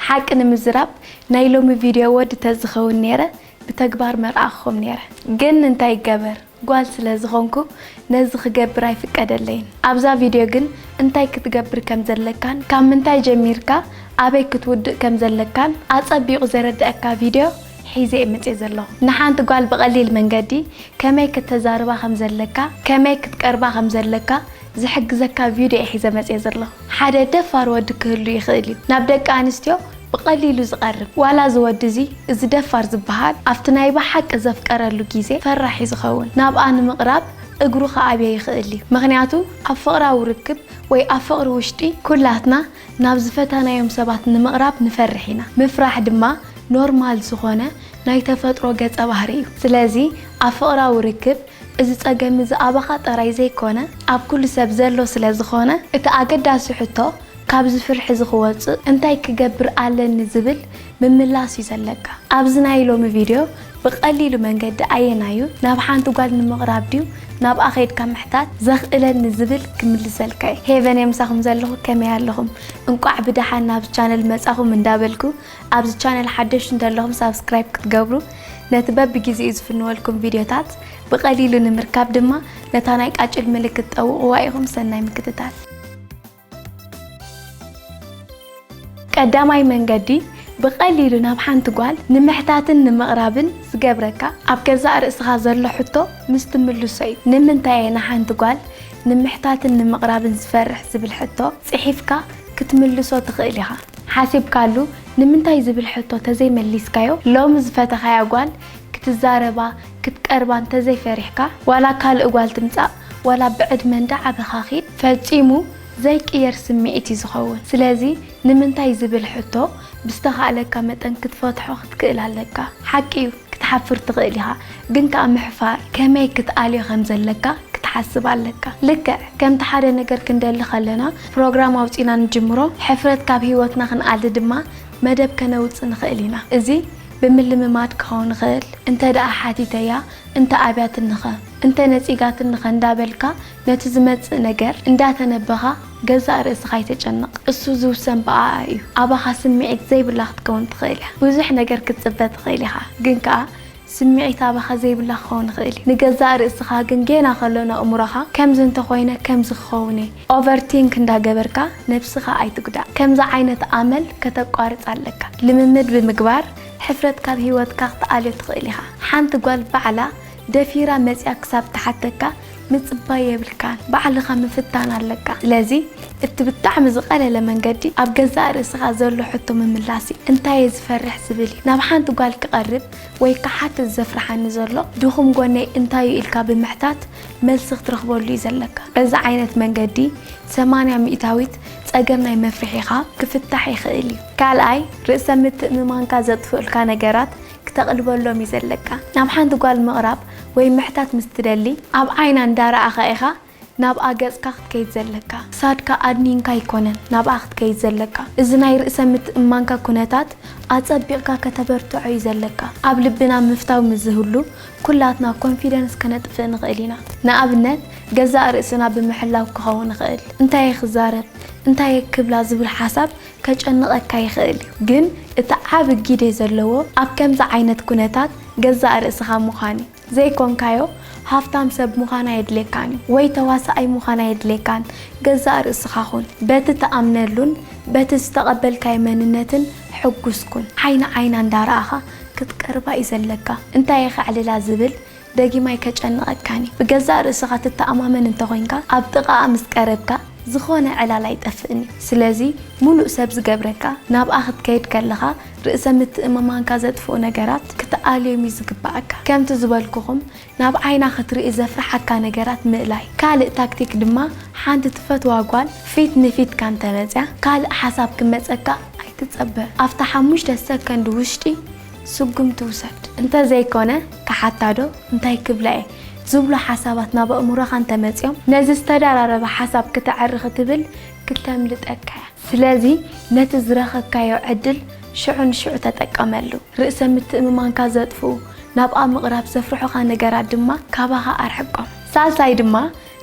ሓቂ ንምዝራብ ናይ ሎሚ ቪድዮ ወዲ ተዝኸውን ነይረ ብተግባር መርኣኹኹም ነይረ ግን እንታይ ይገበር ጓል ስለ ዝኾንኩ ነዚ ክገብር ኣይፍቀደለይን ኣብዛ ቪድዮ ግን እንታይ ክትገብር ከም ዘለካን ካብ ምንታይ ጀሚርካ ኣበይ ክትውድእ ከም ዘለካን ኣጸቢቑ ዘረደኣካ ቪድዮ ሒዘ እየ መጺኤ ዘለኹ። ንሓንቲ ጓል ብቐሊል መንገዲ ከመይ ከተዛርባ ከም ዘለካ፣ ከመይ ክትቀርባ ከም ዘለካ ዝሕግዘካ ቪድዮ እየ ሒዘ መጺኤ ዘለኹ። ሓደ ደፋር ወዲ ክህሉ ይኽእል እዩ ናብ ደቂ ኣንስትዮ ብቐሊሉ ዝቐርብ። ዋላ እዚ ወዲ እዚ፣ እዚ ደፋር ዝበሃል፣ ኣብቲ ናይ ብሓቂ ዘፍቀረሉ ግዜ ፈራሕ እዩ ዝኸውን። ናብኣ ንምቕራብ እግሩ ክኣብዮ ይኽእል እዩ። ምኽንያቱ ኣብ ፍቕራዊ ርክብ ወይ ኣብ ፍቕሪ ውሽጢ ኩላትና ናብ ዝፈታናዮም ሰባት ንምቕራብ ንፈርሕ ኢና። ምፍራሕ ድማ ኖርማል ዝኾነ ናይ ተፈጥሮ ገጸ ባህሪ እዩ። ስለዚ ኣብ ፍቕራዊ ርክብ እዚ ጸገም እዚ ኣባኻ ጥራይ ዘይኮነ ኣብ ኩሉ ሰብ ዘሎ ስለ ዝኾነ፣ እቲ ኣገዳሲ ሕቶ ካብዚ ፍርሒ እዚ ክወጽእ እንታይ ክገብር ኣለኒ ዝብል ምምላስ እዩ ዘለካ። ኣብዚ ናይ ሎሚ ቪድዮ ብቐሊሉ መንገዲ ኣየናዩ ናብ ሓንቲ ጓል ንምቕራብ ድዩ ናብኣ ከይድካ ምሕታት ዘኽእለኒ ዝብል ክምልሰልካ እየ ሄቨን እየ ምሳኹም ዘለኹ ከመይ ኣለኹም እንቋዕ ብደሓን ናብዚ ቻነል መጻኹም እንዳበልኩ ኣብዚ ቻነል ሓደሽቲ እንተለኹም ሳብስክራይብ ክትገብሩ ነቲ በብጊዜኡ ዝፍንወልኩም ቪድዮታት ብቐሊሉ ንምርካብ ድማ ነታ ናይ ቃጭል ምልክት ጠውቕዋ ኢኹም ሰናይ ምክትታል። ቀዳማይ መንገዲ ብቐሊሉ ናብ ሓንቲ ጓል ንምሕታትን ንምቕራብን ዝገብረካ ኣብ ገዛእ ርእስኻ ዘሎ ሕቶ ምስ ትምልሶ እዩ። ንምንታይ እየ ንሓንቲ ጓል ንምሕታትን ንምቕራብን ዝፈርሕ ዝብል ሕቶ ጽሒፍካ ክትምልሶ ትኽእል ኢኻ። ሓሲብካሉ ንምንታይ ዝብል ሕቶ ተዘይመሊስካዮ ሎሚ ዝፈተኻያ ጓል ክትዛረባ፣ ክትቀርባ እንተዘይ ፈሪሕካ ዋላ ካልእ ጓል ትምጻእ ዋላ ብዕድመ እንዳ ዓበኻ ኪድ ፈጺሙ ዘይ ቅየር ስሚዒት እዩ ዝኸውን ስለዚ ንምንታይ ዝብል ሕቶ ብዝተኻእለካ መጠን ክትፈትሖ ክትክእል ኣለካ ሓቂ እዩ ክትሓፍር ትኽእል ኢኻ ግን ከኣ ምሕፋር ከመይ ክትኣልዮ ከም ዘለካ ክትሓስብ ኣለካ ልክዕ ከምቲ ሓደ ነገር ክንደሊ ከለና ፕሮግራም ኣውጺና ንጅምሮ ሕፍረት ካብ ሂወትና ክንኣሊ ድማ መደብ ከነውጽእ ንኽእል ኢና። እዚ ብምልምማድ ክኸውን ይኽእል። እንተ ደኣ ሓቲተያ እንተ ኣብያትኒኸ? እንተ ነጺጋትኒኸ እንዳ በልካ ነቲ ዝመጽእ ነገር እንዳ ተነበኻ ገዛእ ርእስኻ ኣይተጨንቕ። እሱ ዝውሰን ብኣኣ እዩ። ኣባኻ ስምዒት ዘይብላ ክትከውን ትኽእል እያ። ብዙሕ ነገር ክትጽበ ትኽእል ኢኻ። ግን ከኣ ስምዒት ኣባኻ ዘይብላ ክኸውን ይኽእል እዩ፣ ንገዛእ ርእስኻ ግን ጌና ከሎ ነእምሮኻ ከምዚ እንተ ኾይነ ከምዚ ክኸውን እየ ኦቨር ቲንክ እንዳ ገበርካ ነብስኻ ኣይትጉዳእ። ከምዚ ዓይነት ኣመል ከተቋርጽ ኣለካ። ልምምድ ብምግባር ሕፍረት ካብ ሂወትካ ክትኣልዮ ትኽእል ኢኻ። ሓንቲ ጓል ባዕላ ደፊራ መጽያ ክሳብ ትሓተካ ምጽባይ የብልካን ባዕልኻ ምፍታን ኣለካ ስለዚ እቲ ብጣዕሚ ዝቀለለ መንገዲ ኣብ ገዛእ ርእስኻ ዘሎ ሕቶ ምምላስ እዩ እንታይ እየ ዝፈርሕ ዝብል እዩ ናብ ሓንቲ ጓል ክቀርብ ወይ ክሓትት ዘፍርሓኒ ዘሎ ድኹም ጎነይ እንታይ እዩ ኢልካ ብምሕታት መልሲ ክትረኽበሉ እዩ ዘለካ በዚ ዓይነት መንገዲ ሰማንያ ሚእታዊት ጸገም ናይ መፍርሒኻ ክፍታሕ ይኽእል እዩ። ካልኣይ ርእሰ ምትእምማንካ ዘጥፍኡልካ ነገራት ክተቅልበሎም እዩ ዘለካ ናብ ሓንቲ ጓል ምቅራብ ወይ ምሕታት ምስ ትደሊ ኣብ ዓይና እንዳ ረኣኻ ኢኻ ናብኣ ገጽካ ክትከይድ ዘለካ ክሳድካ ኣድኒንካ ኣይኮነን ናብኣ ክትከይድ ዘለካ እዚ ናይ ርእሰ ምትእምማንካ ኩነታት ኣጸቢቅካ ከተበርትዖ እዩ ዘለካ ኣብ ልብና ምፍታው ምስ ዝህሉ ኩላትና ኮንፊደንስ ከነጥፍእ ንኽእል ኢና ንኣብነት ገዛእ ርእስና ብምሕላው ክኸውን ይኽእል እንታይ እየ ክዛረብ እንታይ እየ ክብላ ዝብል ሓሳብ ከጨንቐካ ይኽእል እዩ፣ ግን እቲ ዓቢ ጊደ ዘለዎ ኣብ ከምዚ ዓይነት ኩነታት ገዛእ ርእስኻ ምዃን እዩ። ዘይኮንካዮ ሃፍታም ሰብ ምዃን ኣየድልየካን እዩ፣ ወይ ተዋሳኣይ ምዃን ኣየድልየካን፣ ገዛእ ርእስኻ ኩን። በቲ ትኣምነሉን በቲ ዝተቐበልካዮ መንነትን ሕጉስ ኩን። ዓይኒ ዓይና እንዳረኣኻ ክትቀርባ እዩ ዘለካ፣ እንታይ እየ ከዕልላ ዝብል፣ ደጊም ኣይከጨንቐካን እዩ። ብገዛእ ርእስኻ ትተኣማመን እንተ ኾይንካ፣ ኣብ ጥቓኣ ምስ ቀረብካ ዝኾነ ዕላል ኣይጠፍእን እዩ። ስለዚ ምሉእ ሰብ ዝገብረካ፣ ናብኣ ክትከይድ ከለኻ ርእሰ ምትእምማንካ ዘጥፍኡ ነገራት ክትኣልዮም እዩ ዝግብኣካ። ከምቲ ዝበልኩኹም ናብ ዓይና ክትርኢ ዘፍርሓካ ነገራት ምእላይ። ካልእ ታክቲክ ድማ ሓንቲ ትፈትዋ ጓል ፊት ንፊትካ እንተ መጽያ ካልእ ሓሳብ ክመጸካ ኣይትጸበ። ኣብታ ሓሙሽተ ሰከንድ ውሽጢ ስጉም ትውሰድ እንተ ዘይኮነ ክሓታ ዶ እንታይ ክብላ እየ ዝብሉ ሓሳባት ናብ ኣእምሮኻ እንተ መጺኦም ነዚ ዝተደራረበ ሓሳብ ክተዐሪ ክትብል ክተምልጠካ እያ። ስለዚ ነቲ ዝረኸብካዮ ዕድል ሽዑ ንሽዑ ተጠቀመሉ። ርእሰ ምትእምማንካ ዘጥፍኡ ናብ ኣብ ምቕራብ ዘፍርሑኻ ነገራት ድማ ካባኻ ኣርሕቆም። ሳልሳይ ድማ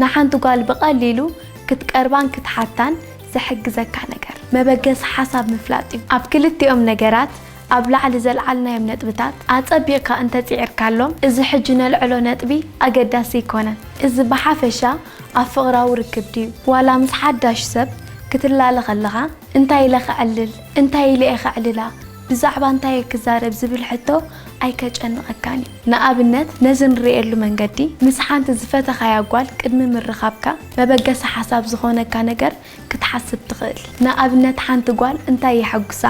ንሓንቲ ጓል ብቐሊሉ ክትቀርባን ክትሓታን ዝሕግዘካ ነገር መበገሲ ሓሳብ ምፍላጥ እዩ። ኣብ ክልቲኦም ነገራት ኣብ ላዕሊ ዘልዓልናዮም ነጥብታት ኣጸቢቕካ እንተ ጽዒርካሎም፣ እዚ ሕጂ ነልዕሎ ነጥቢ ኣገዳሲ ኣይኮነን። እዚ ብሓፈሻ ኣብ ፍቕራዊ ርክብ ድዩ? ዋላ ምስ ሓዳሽ ሰብ ክትላለ ከለኻ፣ እንታይ ኢለ ከዕልል፣ እንታይ ኢለ እየ ከዕልላ፣ ብዛዕባ እንታይ እየ ክዛረብ ዝብል ሕቶ ኣይከጨንቐካን እዩ። ንኣብነት ነዚ ንርእየሉ መንገዲ፣ ምስ ሓንቲ ዝፈተኻያ ጓል ቅድሚ ምርኻብካ፣ መበገሲ ሓሳብ ዝኾነካ ነገር ክትሓስብ ትኽእል። ንኣብነት ሓንቲ ጓል እንታይ የሐጕሳ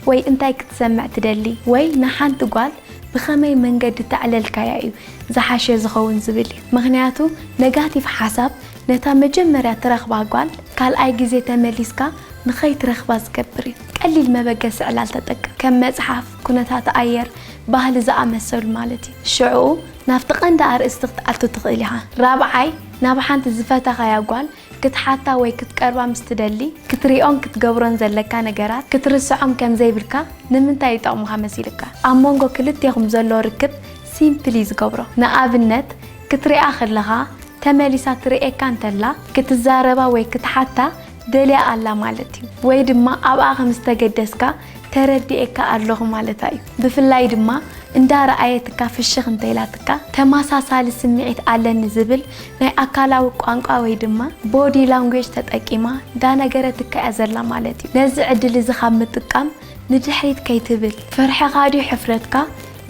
ወይ እንታይ ክትሰምዕ ትደሊ ወይ ንሓንቲ ጓል ብኸመይ መንገዲ ተዕለልካያ እዩ ዝሓሸ ዝኸውን ዝብል እዩ። ምኽንያቱ ነጋቲቭ ሓሳብ ነታ መጀመርያ ትረኽባ ጓል ካልኣይ ግዜ ተመሊስካ ንኸይትረኽባ ዝገብር እዩ። ቀሊል መበገሲ ዕላል ተጠቀም፣ ከም መጽሓፍ፣ ኵነታት ኣየር፣ ባህሊ ዝኣመሰሉ ማለት እዩ። ሽዕኡ ናብቲ ቀንዲ ኣርእስቲ ክትኣቱ ትኽእል ኢኻ። ራብዓይ፣ ናብ ሓንቲ ዝፈተኻያ ጓል ክትሓታ ወይ ክትቀርባ ምስ ትደሊ፣ ክትሪኦን ክትገብሮን ዘለካ ነገራት ክትርስዖም ከም ዘይብልካ ንምንታይ ይጠቕሙኻ መሲልካ? ኣብ መንጎ ክልቴኹም ዘሎ ርክብ ሲምፕል እዩ ዝገብሮ። ንኣብነት፣ ክትሪኣ ከለኻ፣ ተመሊሳ ትርእየካ እንተላ፣ ክትዛረባ ወይ ክትሓታ ደልያ ኣላ ማለት እዩ። ወይ ድማ ኣብኣ ከም ዝተገደስካ ተረዲኤካ ኣለኹ ማለታ እዩ። ብፍላይ ድማ እንዳ ረኣየትካ ፍሽኽ እንተኢላትካ፣ ተመሳሳሊ ስምዒት ኣለኒ ዝብል ናይ ኣካላዊ ቋንቋ ወይ ድማ ቦዲ ላንጉየጅ ተጠቂማ ዳነገረትካ እያ ዘላ ማለት እዩ። ነዚ ዕድል እዚ ካብ ምጥቃም ንድሕሪት ከይትብል። ፍርሕኻ ድዩ ሕፍረትካ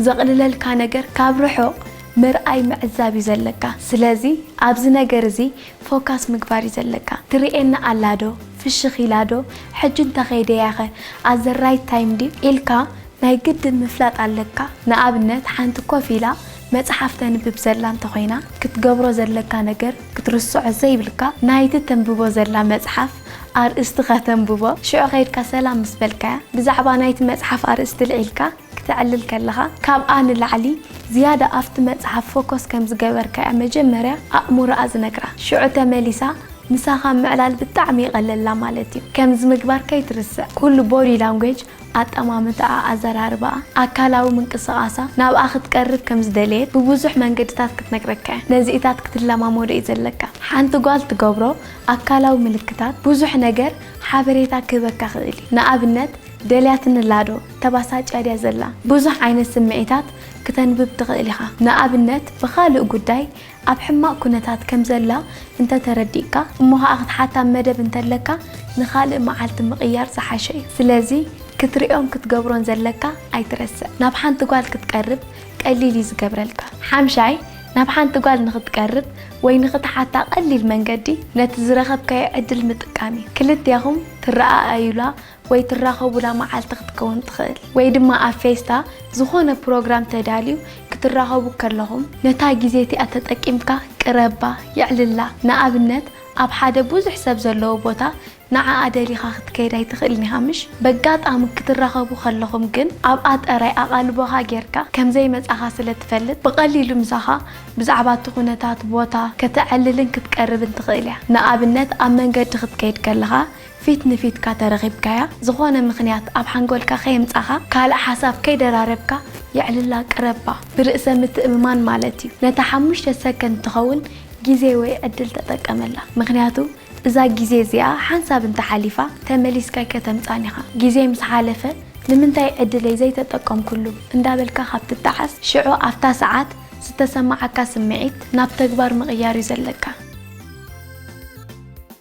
ዘቕልለልካ ነገር ካብ ርሑቕ ምርኣይ ምዕዛብ እዩ ዘለካ። ስለዚ ኣብዚ ነገር እዚ ፎካስ ምግባር እዩ ዘለካ። ትርእየና ኣላ ዶ? ፍሽኽ ኢላ ዶ? ሕጂ እንተኸይደያኸ? ኣት ዘ ራይት ታይም ድዩ? ኢልካ ናይ ግድን ምፍላጥ ኣለካ ንኣብነት ሓንቲ ኮፍ ኢላ መጽሓፍ ተንብብ ዘላ እንተኮይና ክትገብሮ ዘለካ ነገር ክትርስዖ ዘይብልካ ናይቲ ተንብቦ ዘላ መጽሓፍ ኣርእስቲ ከተንብቦ ሽዑ ከይድካ ሰላም ምስ በልካያ ብዛዕባ ናይቲ መጽሓፍ ኣርእስቲ ልዒልካ ክተዕልል ከለካ ካብኣ ንላዕሊ ዝያዳ ኣብቲ መጽሓፍ ፎኮስ ከም ዝገበርካያ መጀመርያ ኣእሙራኣ ዝነግራ ሽዑ ተመሊሳ ምሳካ ምዕላል ብጣዕሚ ይቀለላ ማለት እዩ ከምዚ ምግባር ከይትርስዕ ኩሉ ቦዲ ላንጉጅ ኣጠማምታኣ፣ ኣዘራርባኣ፣ ኣካላዊ ምንቅስቓሳ፣ ናብኣ ክትቀርብ ከም ዝደለየት ብብዙሕ መንገድታት ክትነግረካ እያ። ነዚእታት ክትለማመዶ እዩ ዘለካ። ሓንቲ ጓል ትገብሮ ኣካላዊ ምልክታት ብዙሕ ነገር ሓበሬታ ክህበካ ክእል እዩ። ንኣብነት ደልያትንላዶ? ተባሳጭያ ድያ ዘላ? ብዙሕ ዓይነት ስምዒታት ክተንብብ ትኽእል ኢኻ። ንኣብነት ብኻልእ ጉዳይ ኣብ ሕማቕ ኩነታት ከም ዘላ እንተ ተረዲእካ እሞ ኸኣ ክትሓታ መደብ እንተ ኣለካ ንኻልእ መዓልቲ ምቕያር ዝሓሸ እዩ። ስለዚ ክትርእዮን ክትገብሮን ዘለካ ኣይትረስዕ። ናብ ሓንቲ ጓል ክትቀርብ ቀሊል እዩ ዝገብረልካ። ሓምሻይ፣ ናብ ሓንቲ ጓል ንኽትቀርብ ወይ ንኽትሓታ ቀሊል መንገዲ ነቲ ዝረኸብካዮ ዕድል ምጥቃም እዩ። ክልቴኹም ትረኣኣዩላ ወይ ትራኸቡላ መዓልቲ ክትከውን ትኽእል። ወይ ድማ ኣብ ፌስታ ዝኾነ ፕሮግራም ተዳልዩ ክትራኸቡ ከለኹም ነታ ግዜ እቲኣ ተጠቂምካ ቅረባ፣ የዕልላ። ንኣብነት ኣብ ሓደ ብዙሕ ሰብ ዘለዎ ቦታ ንዓኣ ደሊኻ ክትከይድ ኣይትኽእልን ኢኻ ምሽ? በጋጣሚ ክትራኸቡ ከለኹም ግን ኣብኣ ጥራይ ኣቓልቦኻ ጌርካ ከም ዘይመጻኻ ስለ ትፈልጥ ብቐሊሉ ምሳኻ ብዛዕባ እቲ ኩነታት ቦታ ከተዕልልን ክትቀርብን ትኽእል እያ። ንኣብነት ኣብ መንገዲ ክትከይድ ከለኻ ፊት ንፊትካ ተረኺብካያ ዝኾነ ምኽንያት ኣብ ሓንጎልካ ከየምጻኻ ካልእ ሓሳብ ከይደራረብካ የዕልላ ቅረባ ብርእሰ ምትእምማን ማለት እዩ ነታ ሓሙሽተ ሰከንድ ትኸውን ግዜ ወይ ዕድል ተጠቀመላ ምኽንያቱ እዛ ግዜ እዚኣ ሓንሳብ እንተ ሓሊፋ ተመሊስካ ኣይከተምጻን ኢኻ ግዜ ምስ ሓለፈ ንምንታይ ዕድለይ ዘይተጠቀምኩሉ እንዳበልካ ካብ ትጠዓስ ሽዑ ኣብታ ሰዓት ዝተሰማዓካ ስምዒት ናብ ተግባር ምቕያር እዩ ዘለካ።